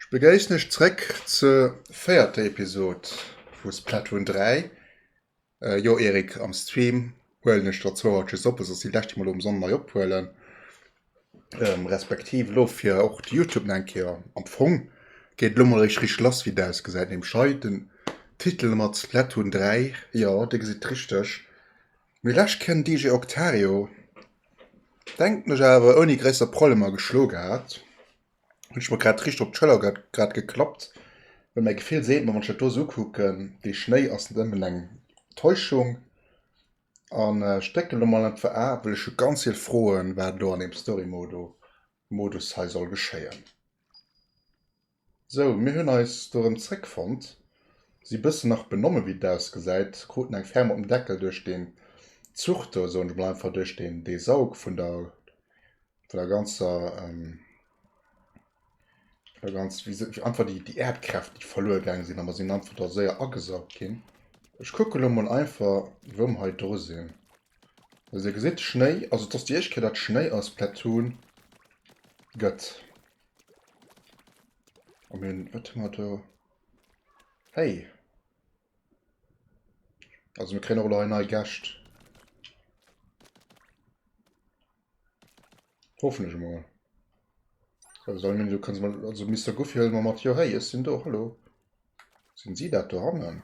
Ech begéissen Iech zréck zur véierter Episode vu Splatoon 3. Jo Eric, am Stream huelen ech der zwouer just op, esou dass déi lescht déi mer elo um Sonnenei ophuelen, respektiv elo fir och de Youtube nach eng Kéier, am Fong geet et elo mol eréischt richteg lass wéi et ausgesäit, nämlech hei den Titel mat Splatoon 3, jo Dir gesitt richteg, mee lescht Kéier den DJ Octario denken ech awer ouni gréisser Problemer geschloe gehat. hun ech mer grad richt op d'Schëller grad geklappt, well mäi Gefill seet mer, wann ech dat do esou ukucken, dee Schnéi ass net ëmmen eng Täuschung. An ech drécken elo mol entwer A, well ech hu ganz vill Froen, wat elo an deem Story-Modo Modus hei soll geschéien. Sou, mir hunn eis do erëm zréckfonnt. Si bëssen nach benomme wéi et ausgesäit, kruten eng Ferm op den Deckel duerch deen Zuch do, soen ech mol einfach, duerch deen dee Saug vun der Vun der ganzer, ähm, vun der ganz, wie se, einfach die, die Erdkräft, die verluer gang sinn, a mer sinn einfach da séier agesaugt ginn. Ech kucke lo mol einfach, wou mer hei dru sinn. Also, dir gesitt, Schnéi, also et ass déi éischt Kéier, datt Schnéi eis Platoon gëtt. A mir hunn, wat hu mer do? Hey! Also, mir kréien och elo hei nei Gäscht. Hoffen ech emol. Also dann meng du kannst mal also Mister Goofy hëll mal mat jo hey ech sinn do hallo. Sinn si dat do hannen?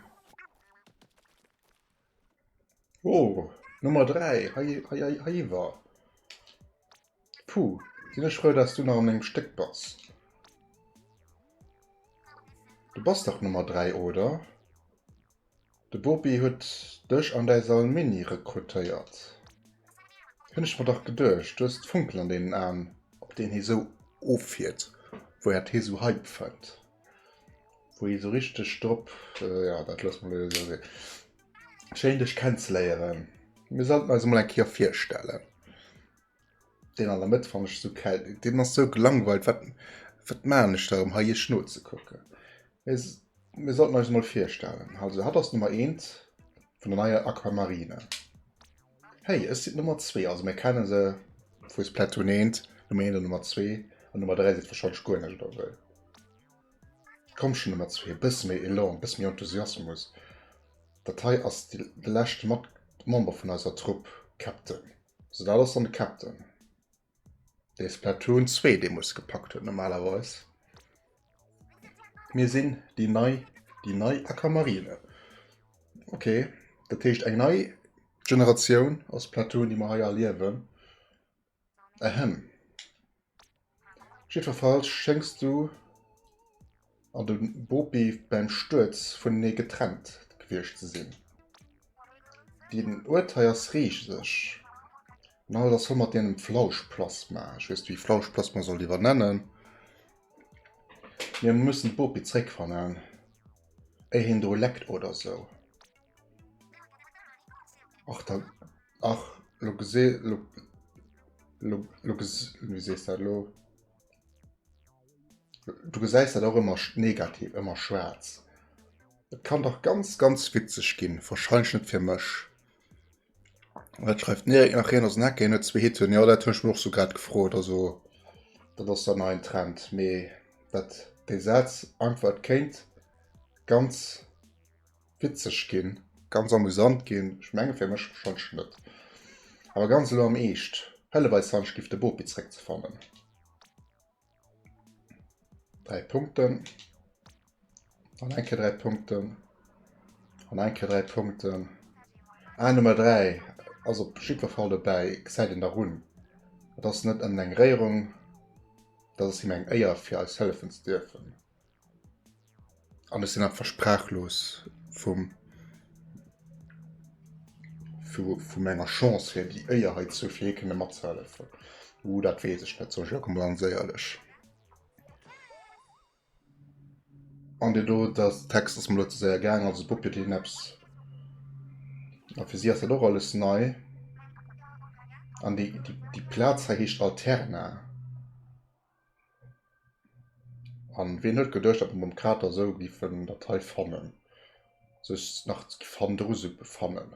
Oh Nummer 3 hei hei hei heiwer. Puh sinn ech frou dass du nach an mengem Stéck bass. Du bass dach Nummer 3 oder? De Bopi huet dech an däi Salmini rekrutéiert. Hunn ech mer dach geduecht. Du hues d'Funken an deenen Aen, op deen hie sou offiert, wou äert hie sou Hype fënnt, wou hie sou richteg drop, jo, dat loosse mer elo jo esou sinn. Schéin dech kennzeléieren. Mir sollten eis emol eng Kéier virstellen. Deen an der Mëtt fannen ech esou kel. Deen ass esou gelangweilt. Wat, wat maan ech do, em hei Iech nozekucken? Mir, s-, mir sollten eis emol virstellen. Also, hat ass Nummer eent vun der neier Aquamarine. Hei, ech sinn d'Nummer zwee. Also, mir kenne se vu Splatoon 1. D'Nummer eent an d'Nummer zwee. An d'Nummer dräi seet warscheinlech guer näischt oder esou. Komm schonn, Nummer zwee, e bësse méi Elan, e bësse méi Enthusiasmus. Dat hei ass de, de leschte Mat-, Member vun eiser Trupp, Captain. So dat ass dann de Captain. Dee Splatoon 2 dee muss gepackt huet normalerweis. Mir sinn déi nei déi nei Akamarine. Okay, dat heescht eng nei Generatioun ass Platoon, déi mer hei erliewen. Ähä. Jiddwerfalls schéngs du an de Bopi bäim Stuerz vunenee getrennt gewiescht ze sinn. Deen Uert hei ass rieseg, an alles ass voll mat deem Flauschplasma. Ech weess net, wéi ee Flauschplasma soll iwwernennen. Mir mussen d'Bopi zréckfannen, éier hien do leckt oder sou. Och dat ach lo gesé lo lo lo ges wéi sees dat lo du gesäis dat och ëmmer negativ ëmmer schwaarz et kann dach ganz ganz witzeg ginn wahrscheinlech net fir mech an dat schreift den Erik nach hien ass en Hacker hien huet zwee Hitten jo dat hunn ech mer och sou grad gefrot also dat ass dann ein Trend mee dat dee Saz einfach et kéint ganz Witzeg ginn, ganz amusant ginn, ech menge fir mech schonsch net, awer ganz elo am Eescht, hëllef eis Sanche giff de Bopi zréck ze fannen. 3 Punkten an eng Kéier 3 Punkten an eng Kéier 3 Punkten. Ah Nummer 3 ass op jiddwer Fall dobäi, gesäit een der Run. Et ass net ënnen eng Réierung, dat ass him eng Éier fir eis hëllefen ze dierfen. An ech sinn einfach sprachlos vum, vu menger Chance fir déi Éier hei ze hu fir hie kënne matzehellefen. Uh dat weess ech net, soen ech och emol ganz éierlech. An dee do, de Text ass mir elo ze séier gaangen, also Puppy huet hien eppes. A fir si ass dat och alles nei. An déi, déi Plaz hei heescht Alterna. An ween huet geduecht dat mer mam Kater sou giffen dat hei fannen, sech nach fandrusel befannen.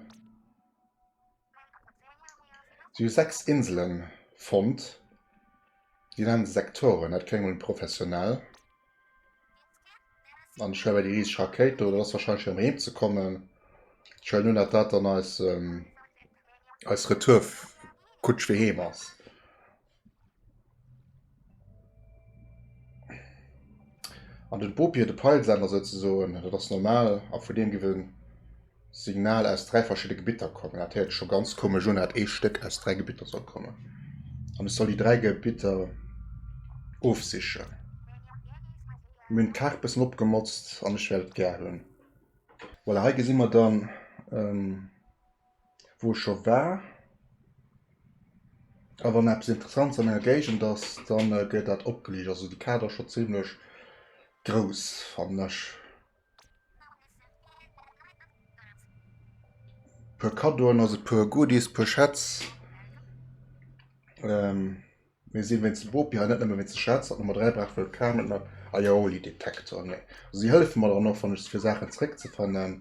Si hu 6 Inselen fonnt, déi nennen se Sektoren, dat kléngt emol professionell. An ech héier bei déi rieseg Rakéit do, dat ass wahrscheinlech fir heem ze kommen. Ech huelen un dat dat dann eis eis Retour Kutsch fir heem ass. An den Bopier, de Peilsender souzesoen, dat ass normal, a vun deem giff en Signal aus 3 verschidde Gebitter kommen. Dat héiert scho ganz komesch un, dat ee Stéck aus 3 Gebitter soll kommen. An ech soll déi 3 Gebitter ofsichen. Mir hunn d'Kaart bëssen opgemotzt an ech wäert et gär hunn. Voilà, hei gesi mer dann. wou ech scho war. A wann eppes Interessantes an enger Géigend ass, dann gëtt dat opgeliicht. Also de Kader ass scho zimmlech grouss, fannen ech. E puer Kaddoen, also e puer Goodies, e puer Schätz. Mir sinn wéinst dem Bopi hei, net nëmme wéinst de Schätz. Hatt Nummer 3 brauch wuel e Permit mat Aioli-Detektor, nee. Si hëllefe mer dann och, wann ech se fir Saachen zeréckzefannen.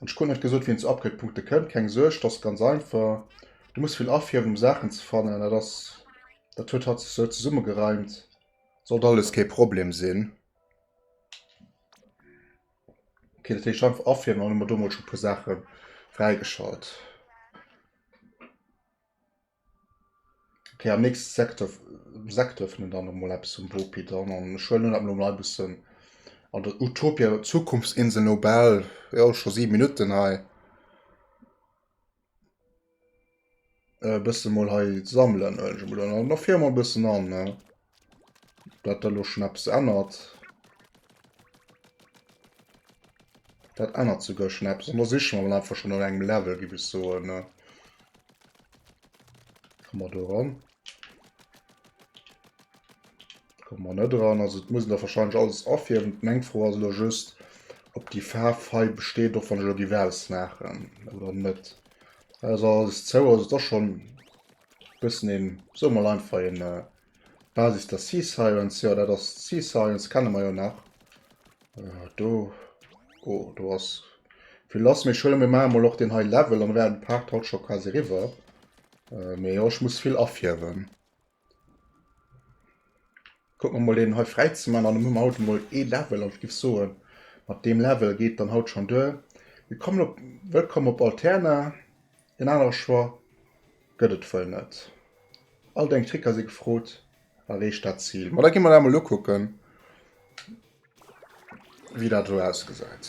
An ech krut net gesot wéi een zu Upgrade-Punkte kënnt, keng Suerg, dat ass ganz einfach. Du muss vill afiewen um Saachen ze fannen, dat ass dat huet hatt sech sou zesummegereimt. Sollt alles kee Problem sinn. Okay, dat heescht einfach afiewen an hu mer do mol scho e puer Saache fräigeschalt. Ok am nächste Sektor Sekt ëffnen ech dann nach mol eppes um Bopi dann an ech huelen dat mol nei bëssen an der Utopia Zukunftsinsel no bal jo scho 7 Minutten hei e bësse mol hei sammelen huelen ech mol an der Firma e bëssen an ne. Dat da lo schnaps ännert. Dat ännert zu go schnaps an da sich man einfach schon an engem Level gi bis so ne. Komm mal do ran. Komm man net dran also muss der wahrscheinlich alles afir meng froh as lo just ob die Fahrfei besteht doch van Jodi Wells machen oder net. Also alles zou also da schon. Bëssen een, soe mol einfach een Basis der Sea Sirens, jo dat ass d'Sea Sirens, kenne mer jo nach. Do, oh do ass vill lass, mee ech huele mir mol och deen hei Level, an da wären d'Paart haut scho quasi riwwer. Mee jo ech muss vill afierwen. Kuck mer mol een hei fräi ze man an hu mer haut emol ee Level an ech giff soen mat deem Level geet dann haut schon duer. Willkommen op Wëllkomm op Alterna, en anere Choix gëtt et wuel net. All deng Tricker si gefrot, erreecht dat Zil. Ma da gi mer dat emol ukucken wéi dat do ausgesäit.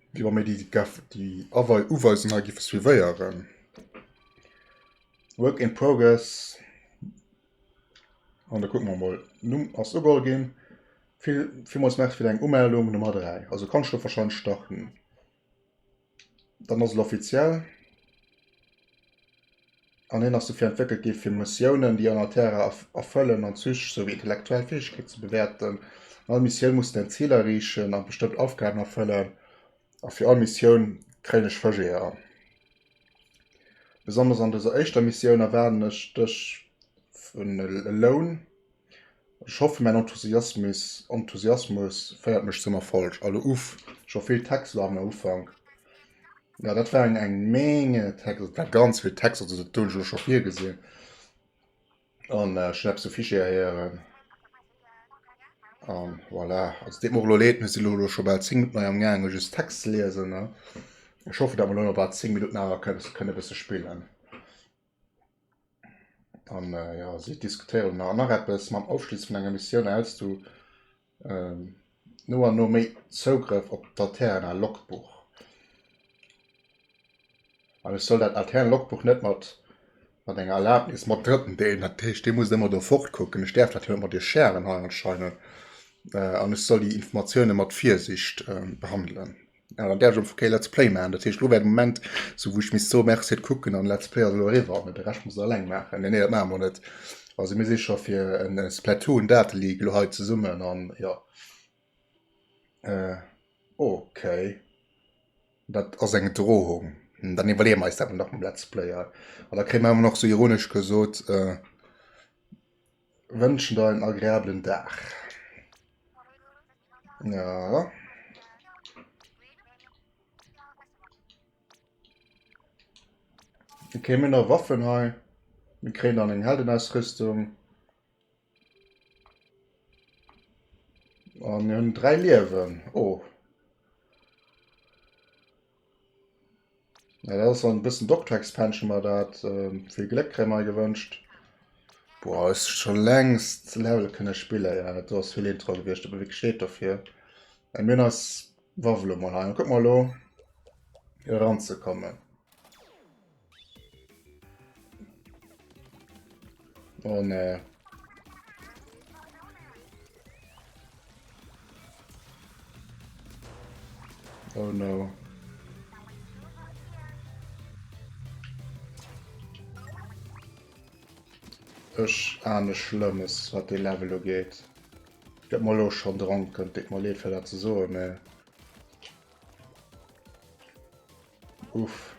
Déi war méi déi déi awei Uweisung hei gi vu suivéieren. Work in progress. An da kucken mer mol. Numm ass ugeholl ginn. Vill villmools Merci fir deng Umeldung Nummer 3. Also kann ech lo wahrscheinlech starten. Dann ass et offiziell. An hien ass dofir entwéckelt gi fir Missiounen, déi aner Terrae erfëllen an d'psychesch souwéi intellektuell Fäegkeeten ze bewäerten. All Missioun muss säin Zil erreechen an bestëmmt Aufgaben erfëllen. A fir all Missioun kréien ech Fëscheeër. Besonnesch an dëser éischter Missioun erwaarden ech dech en Loun. Ech hoffen mäin Enthusiasmis Enthusiasmus féiert mech zum Erfolg. Allo uff, scho vill Texter am Ufank. Ja dat war eng eng Menge Texter, dat war ganz vill Texter, also dat hunn ech elo scho virgesinn an ech hunn eppes de Fichier héieren an voilà. Also deet mer och elo leed, mir sinn elo scho bal 10 Minutten hei amgaangen just d'Text ze liesen. Ech hoffe dat mer elo nach bal 10 Minutten awer kënne kënne e bësse spillen. An äh, ja, si diskutéieren nach, nach eppes mam Ofschluss vun enger Missioun aus du ähm, no an no méi Zougrëff op d'Alterna Logbuch. An ech soll dat Alterna Logbuch net mat mat enger Erlaubnis mat Drëtten deelen, dat heescht, Dir musst ëmmer do fortkucken. Ech däerf dat jo net mat Dir sharen hei anscheinend. Äh, an ech soll déi Informatioune mat Virsicht ähm, behandelen. Awer gär ech och Kéier Let's Play maachen. Dat heescht, elo wär de Moment, sou wou ech misst soen, Merci, et kucken an Let's Play ass elo eriwwer, mä de Rescht muss der eleng maachen. Nee, nee, dat maache mer net. Also mir si scho fir en Splatoon Date League elo hei zesummen an jo. Ok. Dat ass eng Drohung. Dann iwwerleeë mer eis dat emol nach mam Let's Player. An da kréie mer ëmmer nach sou ironesch gesot, Wënschen der en agreablen Dag. Ja. Dann kriegen wir noch Waffen hei. Wir kriegen dann eine Heldenausrüstung. Und wir haben drei Leben. Oh. Ja, dat ass an bëssen Doctor-Expansion mer dat. Ähm, vill Gléck kréie mer gewënscht. Boah, ass scho längst Level kënne spille ja, dat ass vill Intro gewiescht, op wéi steet dofir. Ä mir ass Wawelo mal heim. Kuck mal lo ranzekommen. Oh ne. Oh no. Ech ahne Schlëmmes, wat de Level ugeet. Ich gëtt mal lo schon dranken, tut mir leed fir dat ze soen, mä Uff.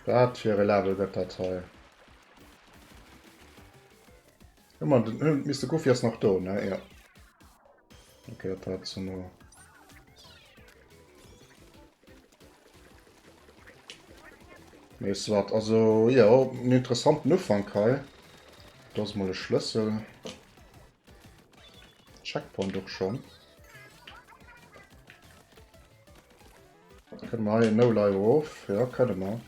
Wat fir e Level gëtt dat hei? Ëmmer den Hund Mister Goofy ass nach do, ne? Ja. Okay, dat war zu no. Mees wat, also ja, en interessanten Ufank hei. Dat ass mal e Schlëssel. Checkpoint och schon. Können wir hier no leider auf? Ja, können wir.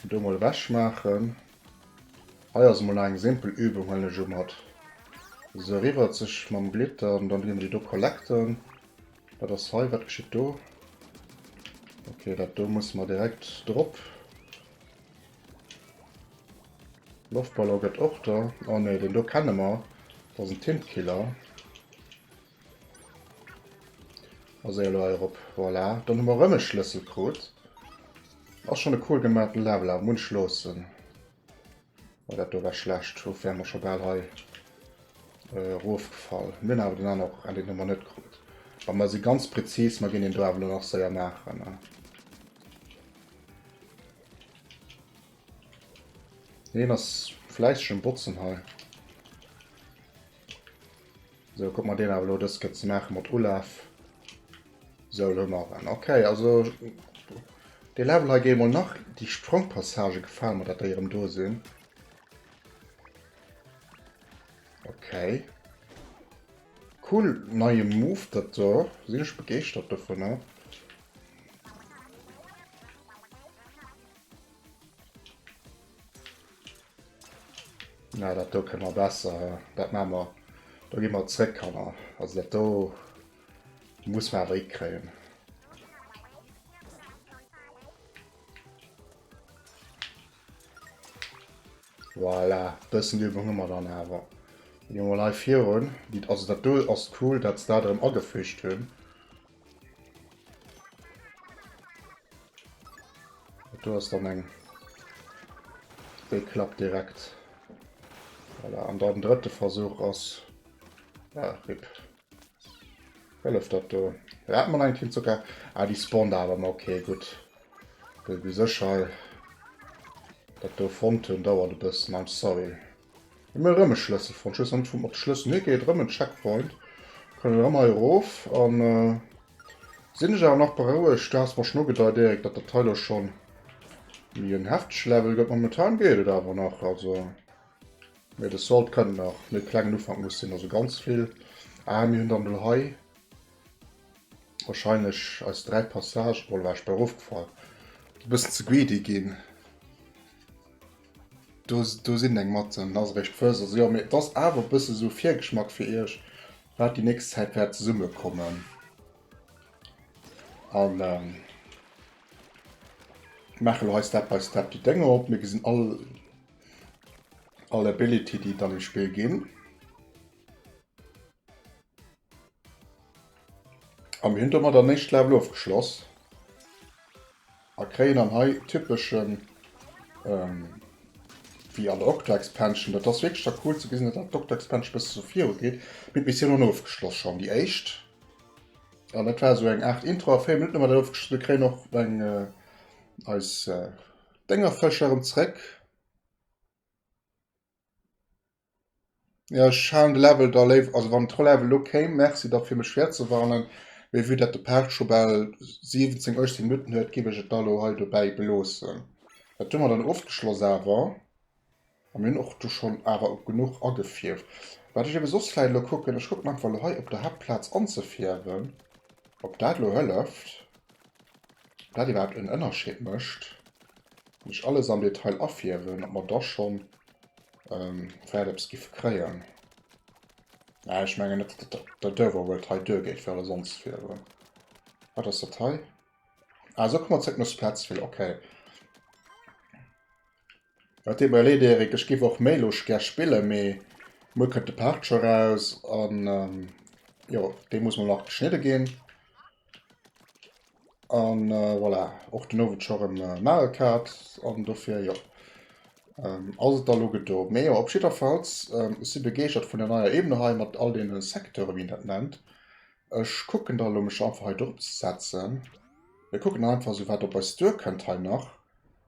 Und da mal wäsch machen. Hier ist mal eine simple Übung, wenn ich um hat. So rüber sich mit dem Glitter und dann gehen wir die hier collecten. Was ist hier? Was geschieht da? Okay, das da muss man direkt drop. Loftballon gëtt och do. Oh nee, deen do kenne mer. Dat ass en Tintkiller. Ass ee elo heirop. Voilà. Dann hu mer erëm e Schlëssel krut. Ass schonn e cool gemaachten Level, awer munch loossen. Oh, dat do war schlecht. Uff, wäre mer scho bal hei erofgefall. Mir hunn awer den aner och endlech nochmal net krut. Mä mer si ganz präzis. Mer ginn deen do awer elo nach séier maachen. Deen ass fläisseg um Botzen hei. So, guck mal deen awer lo, dës gëtt ze maache mat Ulaf. So, lo mar en. Okay, also de Level hei géi mol nach. Déi Sprongpassage gefalen mer, dat déi erëm do sinn. Okay. Cool, neie Move dat do. Sinn ech begeeschtert dovunner. Na, dat do kënne mer besser. Dat maache mer. Do gi mer zréck, Kanner. Also dat do muss mer awer hikréien. Voilà, e bëssen Übung hu mer dann awer. Gi mer mol hei virun. Also dat do ass cool, datt se dat erëm agefügt hunn. Du hast dann eng Dei klappt direkt. Voilà. An dann dritte Versuch ass ah, Rip. Hëlleft dat do. Ja, hat man eng Kill sogar. Ah, die spawnt awer ma okay, gut. Du sécher dat do fonnt hunn dauert e bëssen. I'm sorry. Hu mir erëm e Schlëssel fonnt. Ech weess nach net vum op de Schlëssel. Nee, geet erëm en Checkpoint. Kënnen erëm hei erof. An sinn ech awer nach berouegt. Du has mer schon ugedeit Erik, datt dat hei lo schon méi en heftege Level gëtt. Momentan geet et awer nach. Also mee de Salt kënnt nach. Méi klengen Ufank muss sinn. Also ganz vill. Ah mir hunn dann elo hei wahrscheinlech eis 3 Passagen. Oh la vache, ech bei erofgefall. Ass e bëssen ze greedy ginn. Do sinn eng mat den Aserecht First a sou. Jo, mee et ass awer e bësse sou e Virgeschmack fir iech, wat déi nächst Zäit wäert zesummekommen. A maache lo hei Step by Step déi Dénger op. Mir gesinn all all Ability, déi et an dem Spill ginn. A mir hunn domat an éischt Level ofgeschloss a kréien dann hei typeschen, wéi an der Octo-Expansion, dat ass wierklech da cool ze gesinn, datt d'Octo-Expansion e bëssen esou virugeet, mir d'Missiounen ofgeschloss, schonn déi éischt. An dat war esou eng Aart Intro a 4 Minutten hu mer dat ofgeschloss. Mir kréien och eng eis Déngerfësch erëm zréck. Ja, ech halen de Level da léiwer, also wann d'Relève elo kéim, Merci da fir mech virzewarnen, mee vue dat de Paart scho bal 17, 18 Minutten huet, géif ech et da elo hei dobäi beloossen. Dat hu mer dann ofgeschloss awer. A mir hunn och do schonn awer genuch agefierft. Wat ech ebe soss vläicht elo kucken, ech kucken einfach elo hei op der Haaptplaz anzefierwen, ob dat elo hëlleft, ob dat iwwerhaapt en Ënnerscheed mécht, wann ech alles am Detail afierwen, ob mer da schonn ähm, wäert eppes giffe kréien. Äh, ech mengen net, dat der Dörwer huet hei duer geet fir sonst fir. Äh, wat ass dat hei? Ah, so kummer zréck no Splatsville, okay. Wat dir überleet, Erik, ech giff och méi lusch gär spille, mee muer kënnt de Part scho raus an ähm, jo, dee muss mol nach geschnidde ginn. An voilà, och den Owend scho rem Mario Kart, an dofir jo ass et da lo gedo. Mee jo op jidderfalls, ech si begeeschtert vun der neier Ebene hei mat all deene Secteure wéi een dat nennt. Ech kucken da lo mech da einfach hei drop ze setzen. Mir kucken da einfach esou wat op eis duer kënnt hei nach.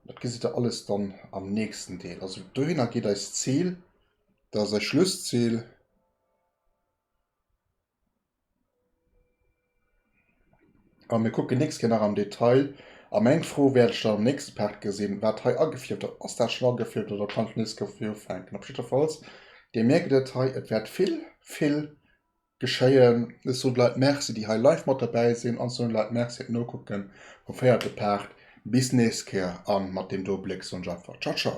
Dat gesitt der alles dann am nächsten Deel. Also dohinner geet eist Zil, dat ass eis Schlusszil. A mir kucken nächst Kéier nach am Detail. A meng Fro wäert ech dann am nächste Part gesinn, wat hei agefierft ass. Ass dat schonn agefierft oder kann ech nees goufe fir ufänken? Op jiddwerfalls, Dir mierkt et, hei, et wäert vill, vill geschéien. Ech soen d'Leit Merci, déi hei live mat dobäi sinn, an ech soen de Leit Merci fir d'Nokucke vum véierte Part. Bis nächst Kéier a mat deem do Bléck soen ech einfach Ciao, ciao!